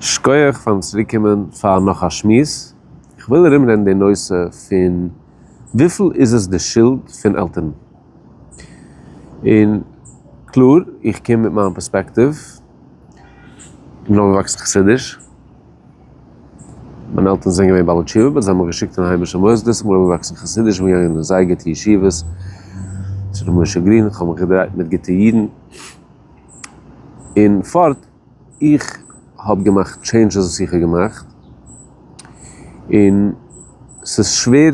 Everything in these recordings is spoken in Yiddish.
שכוח פארן צוריקקומען פאר נאך א שמועס, איך וויל ארומרעדן די נושא פון וויפיל איז עס די שולד פון עלטערן, און קלאר איך קום מיט מיין פערספעקטיוו, איך בין אויפגעוואקסן חסידיש, מיינע עלטערן זענען געווען בעלי תשובה באט זיי האבן מיך געשיקט אין היימישע מוסדות, איך בין אויפגעוואקסן חסידיש, איך בין געגאנגען אין זייער גוטע ישיבות, צו ר' משה גרין, איך האב מיך געדרייט מיט גוטע אידן, און פארט איך האב געמאכט טשעינדשעס וואס איך האב געמאכט, און ס'איז שווער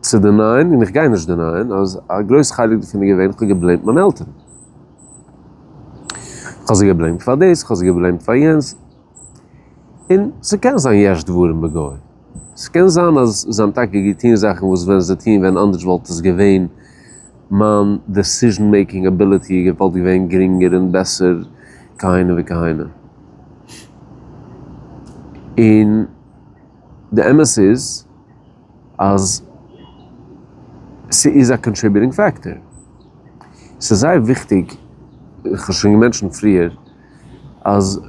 צו דענייען, און איך גיי נישט דענייען, אז א גרויס חלק דערפון איז געווען, איך האב געבלעימט מיינע עלטערן. איך האב זיי געבלעימט פאר דאס, איך האב זיי געבלעימט פאר יענס. און ס'קען זיין יש דברים בגוי. ס'קען זיין אז זיי האבן טאקע געטון זאכן וואס ווען זיי טוען ווען אנדערש וואלט עס געווען. מיין דעסיזשן מעיקינג אביליטי איז געוואלט געווען גרינגער און בעסער כהנה וכהנה. און די אמת איז אז ס'איז א קאנטריביוטינג פעקטאר. ס'איז זייער וויכטיג, איך האב שוין געמענטשענט פריער, אז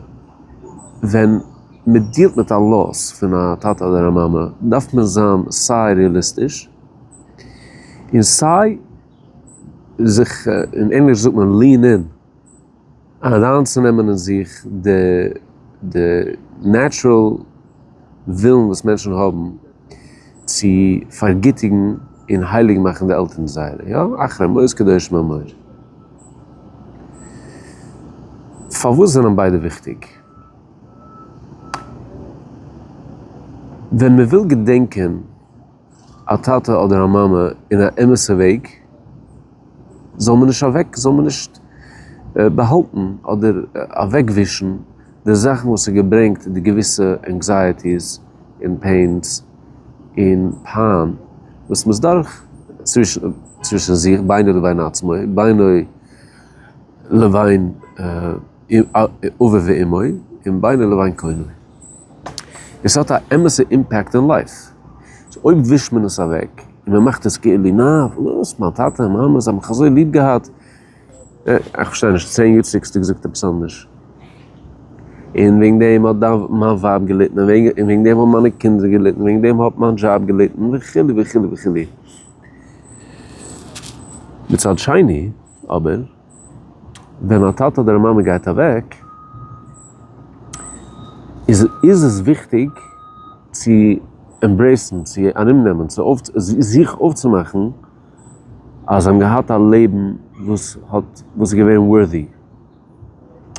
ווען מ'דילט מיט א לאס פון א טאטע אדער א מאמע דארף מען זיין סיי רעאליסטיש, און סיי זיך, אין ענגליש זאגט מען lean in, אריינצונעמען אין זיך די די נעטשרעל ווילן וואס מענטשן האבן צו פארגיטיגן און הייליג מאכן די עלטערן זייערע, יא, אחרי מות קדושים אמור. פארוואס זענען ביידע וויכטיג? ווען מען וויל געדענקען. א טאטע אדער א מאמע אין א אמת'ע וועג זאל מען נישט אוועק זאל מען נישט באהאלטן אדער אוועקווישן די זאכן וואס האט געברענגט די געוויסע ענקזייעטיס און פעינס און פיין וואס מ'איז דורך צווישן זיך בינו לבין עצמו בינו לבין. אביו ואמו און בינו לבין קונו. עס האט א אמת'ע אימפעקט אין לייף. סאו אויב ווישט מען עס אוועק און מען מאכט עס כאילו נאר וואס מיין טאטע און מאמע זיי האבן מיך אזוי ליב געהאט. איך פארשטיי נישט, צען יאר צוריק האסטו געזאגט עפעס אנדערש. און וועגן דעם האט מיין ווייב געליטן און וועגן דעם האבן מיינע קינדער געליטן און וועגן דעם האט מיין דזשאב געליטן וכו' וכו' וכו'. מצד שני אבער. ווען א טאטע אדער א מאמע גייט אוועק, איז איז עס וויכטיג צו עמברעיסן, צו ארומנעמען, צו אויף זיך אויפצומאכן אז זיי האבן געהאט א לעבן וואס האט וואס איז געווען ווארטי,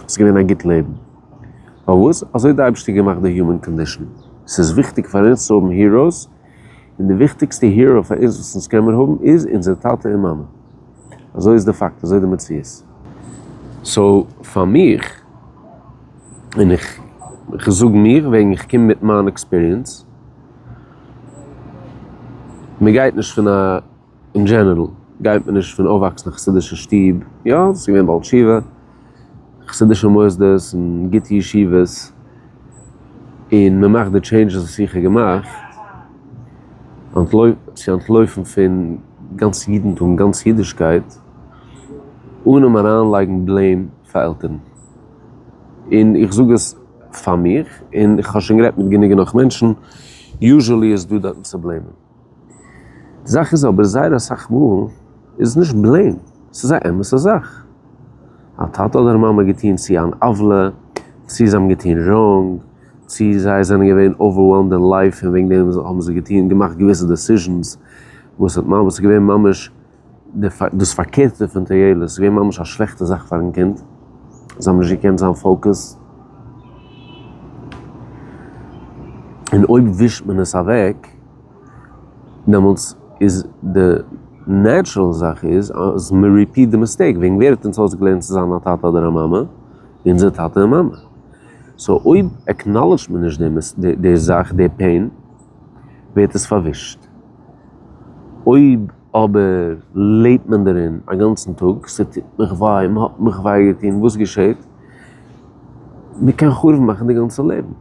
עס איז געווען א גוט לעבן. פארוואס? אזוי האט די אייבערשטער געמאכט די היומען קאנדישאן, ס'איז וויכטיג פאר אונז צו האבן היראוס, און די וויכטיגסטע היראו פאר אונז וואס אונז קענמיר האבן איז אונזער טאטע און מאמע. אזוי איז די פאקט, אזוי די מציאות. סאו פאר מיך, און איך כ'זאג מיך וועגן איך קום מיט מיין עקספיריענס, מ'גייט נישט פון א. אין דזשענערל גייט מען נישט פון אויפוואקסן אין חסידישע שטוב, יא ס'איז געווען בעל תשובה, חסידישע מוסדות און גוטע ישיבות, און מען מאכט די טשעינדזשעס וואס איך האב געמאכט, צו אנטלויפן פון גאנץ אידנטום, גאנץ אידישקייט, אנעם אריינלייגן בלעים פאר עלטערן, און איך זאג עס פאר מיך, און איך האב שוין גערעדט מיט גענוג און נאך מענטשן, יוזשעלי איז דא דארטן צו בלעימען. די זאך איז אבער זייער אסאך מאל איז עס נישט בלעם, עס איז א אמת'ע זאך. א טאטע אדער מאמע געטון צו אן עוולה, צו זיי האבן געטון ראנג, צו זיי זענען געווען אווערוועלמד אין לייף און וועגן דעם האבן זיי געטון געמאכט געוויסע דעסיזשענס וואס האט ממש געווען ממש, דאס פארקערטע פון טויאלעס איז געווען ממש א שלעכטע זאך פארן קינד, זיי האבן נישט געקענט זיין פאוקעס, און אויב ווישט מען עס אוועק דעמאלטס איז די נעטשרעל זאך איז אז מען ריפיעט די מיסטעיק, וועגן ווער האט אונז אויסגעלערנט צו זיין א טאטע אדער א מאמע? אונזער טאטע און מאמע, סאו אויב עקנאלעדזשט מען נישט די זאך, די פעין, ווערט עס פארווישט. אויב אבער לעבט מען דערין א גאנצן טאג, ס'טוט מיך וויי, מ'האט מיך וויי געטון, וואס געשעט? מ'קען חרוב מאכן די גאנצע לעבן.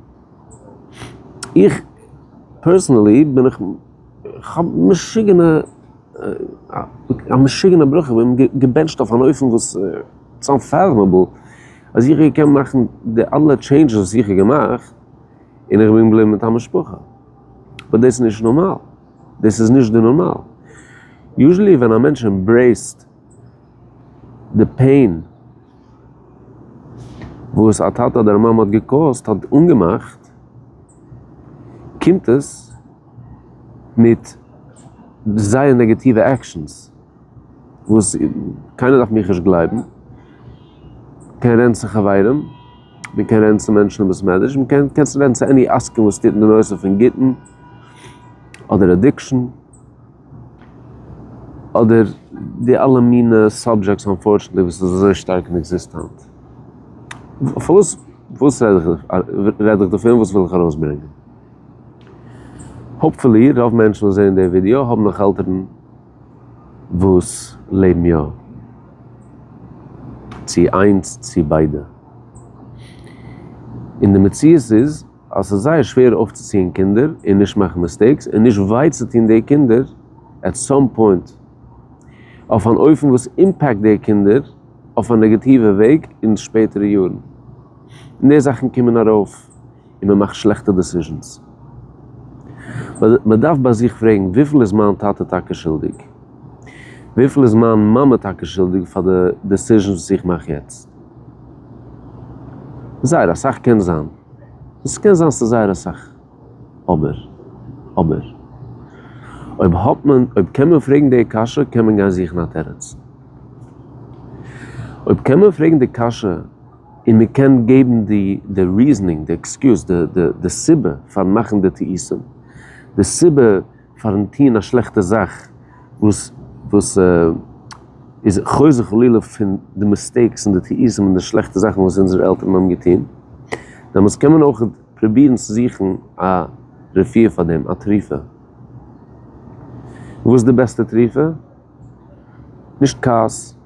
איך פערסענעלי בין איך כ'האב משוגענע א משוגענע ברכה, איך בין געבענטשט אויף אן אופן וואס איטס אנפארמעבל, אז איך וועל קענען מאכן די אלע טשעינדזשעס וואס איך האב געמאכט, און איך בין געבליבן מיט א משפחה. אבער דאס איז נישט נארמאל. דאס איז נישט די נארמאל. יוזשעלי ווען א מענטש עמברעיסט די פעין וואס א טאטע אדער א מאמע האט געקאוזט, האט אנגעמאכט, קומט עס מיט זייער נעגעטיווע עקשאנס, וואס קיינער דארף מיך נישט גלייבן, קען רענצן חברים. מען קען רעדן צו מענטשן אין בית מדרש, מען קען קענסט רעדן צו עני עסקן וואס טוט אין די נושא פון גוטן אדער אדיקשן, אדער די אלע מינע סאבדזשעקטס אנפארטשענטלי וואס איז אזוי שטארק אין עקזיסטענט. וואס וואס רעד איך רעד איך דערפון וואס וויל איך ארויסברענגען? האפפולי רוב מענטשן וואס זעען די ווידיאו האבן נאך עלטערן. וואס לעבן יא, צו איינס צו ביידע. און די מציאות איז אז ס'איז זייער שווער אויפצוציען קינדער און נישט מאכן מיסטעיקס און נישט וויי צו טון די קינדער עט סאם פוינט, אויף אן אופן וואס אימפעקט די קינדער אויף א נעגאטיווע וועג אין שפעטערע יארן. און די זאכן קומען ארויף. און מען מאכט שלעכטע דעסיזשענס. מען דארף ביי זיך פרעגן, וויפיל איז מיין טאטע טאקע שולדיג? וויפיל איז מיין מאמע טאקע שולדיג פאר די דעסיזשענס וואס איך מאך יעצט? זייער אסאך קען זיין. עס קען זיין ס'איז זייער אסאך. אבער. אבער. אויב האט מען. אויב קען מען פרעגן די קשיא, קען מען גיין זוכן א תירוץ. אויב קען מען פרעגן די קשיא. און מען קען געבן די די ריזענינג די עקסקיוז די די די סיבה פארן מאכן די טעותים די סיבה פארן טוהן א שלעכטע זאך וואס וואס איז חוזר חלילה פון די מיסטעיקס און די טעותים און די שלעכטע זאכן וואס אונזערע עלטערן האבן געטוהן דעמאלטס קען מען אויך פרובירן צו זוכן א רפואה פאר דעם א תרופה וואס איז די בעסטע תרופה? נישט כעס,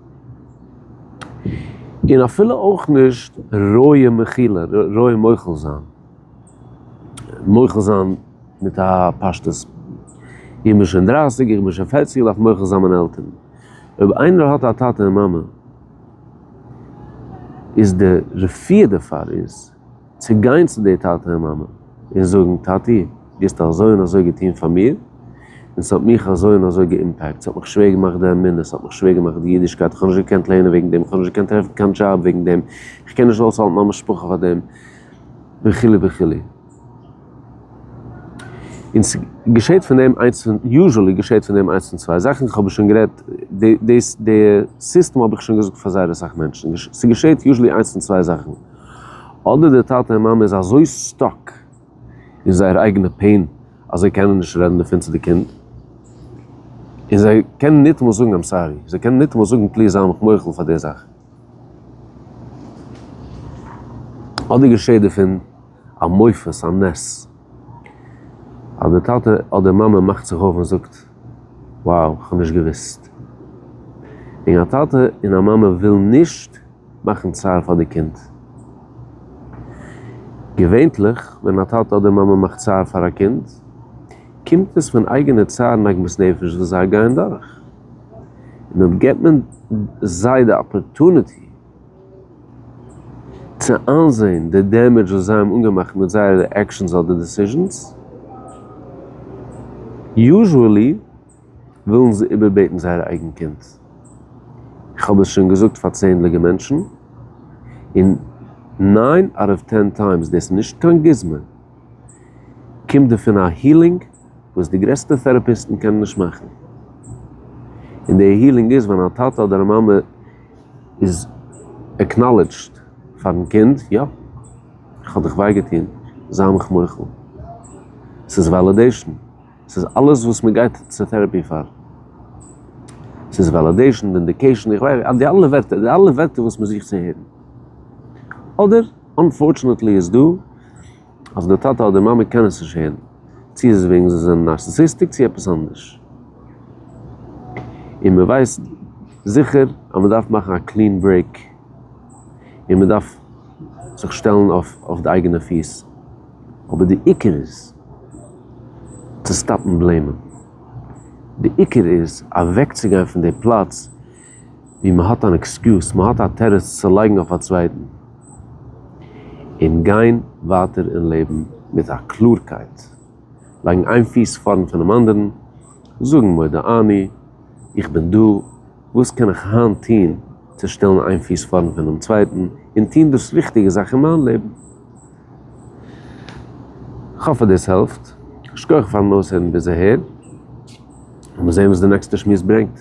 און אפילו אויך נישט רויע מחילה, רויע מוחל זיין, מוחל זיין מיט א פשטות, איך בין שוין דרייסיג, איך בין שוין פערציג, איך דארף מוחל זיין מיינע עלטערן. אויב איינער האט א טאטע און מאמע, איז די רפואה דערפאר איז. צו גיין צו די טאטע און מאמע און זאגן טאטי דו האסט אזוי און אזוי געטון פאר מיר און ס'האט מיך אזוי און אזוי געאימפעקט, ס'האט מיך שווער געמאכט די אמונה, ס'האט מיך שווער געמאכט די אידישקייט, איך האב נישט געקענט לערנען וועגן דעם, איך האב נישט געקענט טרעפן קיין דזשאב וועגן דעם, איך קען נישט אויסהאלטן מיין משפחה פאר דעם וכו' וכו'. און ס'געשעהט פון דעם איינס פון, יוזשעלי געשעהט פון דעם איינס פון צוויי זאכן, איך האב שוין גערעדט, די סיסטעם האב איך שוין געזאגט פאר זייער אסאך מענטשן, ס'געשעהט יוזשעלי איינס פון צוויי זאכן. אדער די טאטע און מאמע איז אזוי סטאק אין זייער אייגענע פעין אז זיי קענען נישט רעדן דערפון צו די קינד, און זיי קענען ניטאמאל זאגן איים סארי, זיי קענען ניטאמאל זאגן פליז זיי מיך מוחל פאר די זאך. אדער געשעט דערפון א מופת, א נס, אז די טאטע אדער מאמע מאכט זיך אויף און זאגט, wow, כ'האב נישט געוואוסט. און א טאטע און א מאמע ווילן נישט. מאכן צער פאר די קינד. געווענטליך ווען א טאטע אדער מאמע מאכט צער פאר א קינד, קומט עס פון אייגענע צער און עגמת נפש וואס זיי גייען דורך, און אויב גיבט מען זיי די אפערטוניטי צו איינזען די דעמעדזש וואס זיי האבן אנגעמאכט מיט זייערע עקשאנס אדער דעסיזשאנס, יוזשעלי, ווילן זיי איבערבעטן זייער אייגן קינד. איך האב עס שוין געזאגט פאר צענדליגע מענטשן, און ניין אוט אוו טען טיימס, דאס איז נישט קיין גוזמא, קומט דערפון א הילינג וואס די גרעסטע טעראפיסטן קענען נישט מאכן. און די הילינג איז ווען א טאטע אדער א מאמע איז עקנאלעדזשד פארן קינד, יא, איך האב דיך וויי געטון, זיי מיך מוחל. ס'איז וועלידעישן. ס'איז אלעס וואס מען גייט צו טערעפי פאר. ס'איז וועלעדעישן, ווינדיקעישן, איך ווייס, די אלע ווערטער, די אלע ווערטער וואס מען זוכט צו הערן. אדער, אנפארטשענעטלי איז דא, אז די טאטע אדער מאמע קענען עס נישט הערן. צו איז עס וועגן זיי זענען נארסיסיסטיק צו עפעס אנדערש. און מען ווייסט זיכער אז מען דארף מאכן א קלין ברעיק. און מען דארף זיך שטעלן אויף די אייגענע פיס, אבער די עיקר איז צו סטאפן בלעימען, די עיקר איז אוועקצוגיין פון די פלאץ ווי מען האט אן עקסקיוז, מען האט א תירוץ צו לייגן אויף א צווייטן, און גיין ווייטער אין לעבן מיט א קלארקייט, לייגן איין פיס פארנט פונעם אנדערן, זאגן מודה אני, איך בין דא, וואס קען איך היינט טון? צו שטעלן איין פיס פארנט פונעם צווייטן און טון דאס ריכטיגע זאך אין מיין לעבן. כ'האף אז דאס העלפט. שכוח פארן אויסהערן ביז אהער. לאמיר זען וואס די נעקסטע שמועס ברענגט.